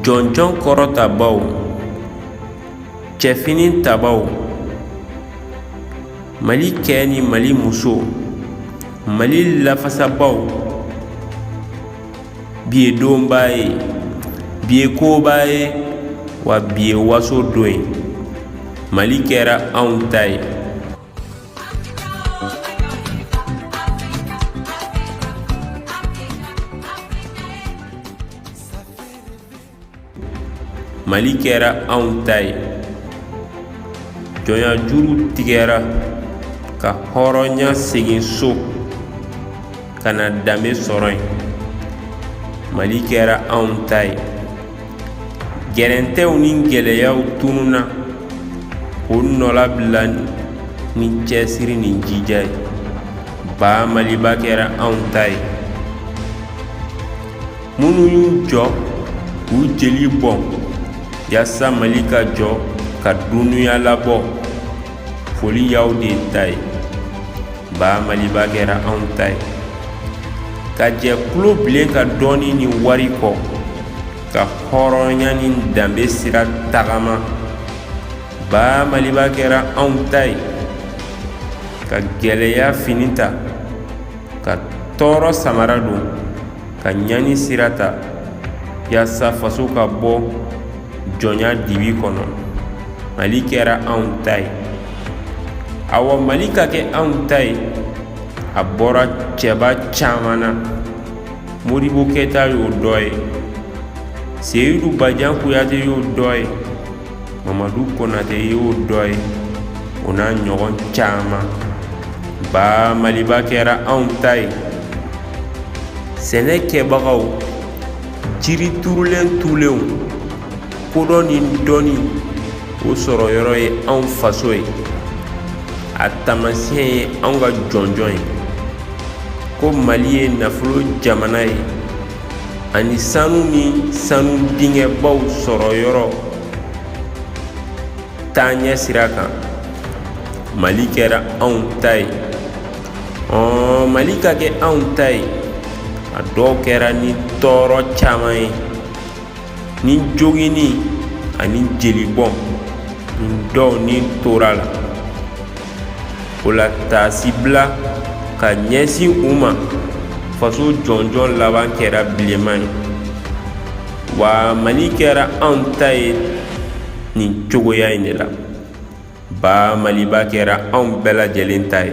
jɔnjɔn kɔrɔtabaw cɛfini tabaw mali cɛ ni mali muso mali lafasabaw bi ye donba ye bi ye koba ye wa bi ye waso don ye mali kɛra anw ta ye mali kɛra anw ta ye jɔnya juru tigɛra ka hɔrɔnya segin so ka na danbe sɔrɔ yen mali kɛra anw ta ye gɛrɛntɛw ni gɛlɛyaw tununna k'o nɔlabila ni cɛsiri ni jija ye ba maliba kɛra anw ta ye minnu y'u jɔ k'u jeli bɔn yasa mali ka jɔ ka dunuya labɔ foli y'aw de ta ye ba maliba kɛra anw ta ye ka jɛ tulobilen ka dɔnni ni wari kɔ ka hɔrɔnya ni danbe sira tagama ba maliba kɛra anw ta ye ka gɛlɛya fini ta ka tɔɔrɔ samara don ka ɲani sira ta yasa faso ka bɔ jɔnya dibi kɔnɔ mali kɛra anw ta ye awa mali ka kɛ anw ta ye a bɔra cɛba caman na modibo keyita y'o dɔ ye seyidu bajan kuyate y'o dɔ ye mamadu konate y'o dɔ ye o n'a ɲɔgɔn caman ba maliba kɛra anw ta ye sɛnɛkɛbagaw jiri turulen tulenw kodɔn ni dɔnni o sɔrɔ yɔrɔ ye anw faso ye a taamasiyɛn ye anw ka jɔnjɔn ye ko mali ye nafolo jamana ye ani sanu ni sanu dingɛbaw sɔrɔ yɔrɔ taaɲɛ sira kan mali kɛra anw ta ye mali ka kɛ anw ta ye a dɔw kɛra ni tɔɔrɔ caman ye ni joginni ani jelibɔn nin dɔw ni tora a la o la taasibila ka ɲɛsin u ma faso jɔnjɔn laban kɛra bilenman ye wa mali kɛra anw ta ye nin cogoya in de la ba maliba kɛra anw bɛɛ lajɛlen ta ye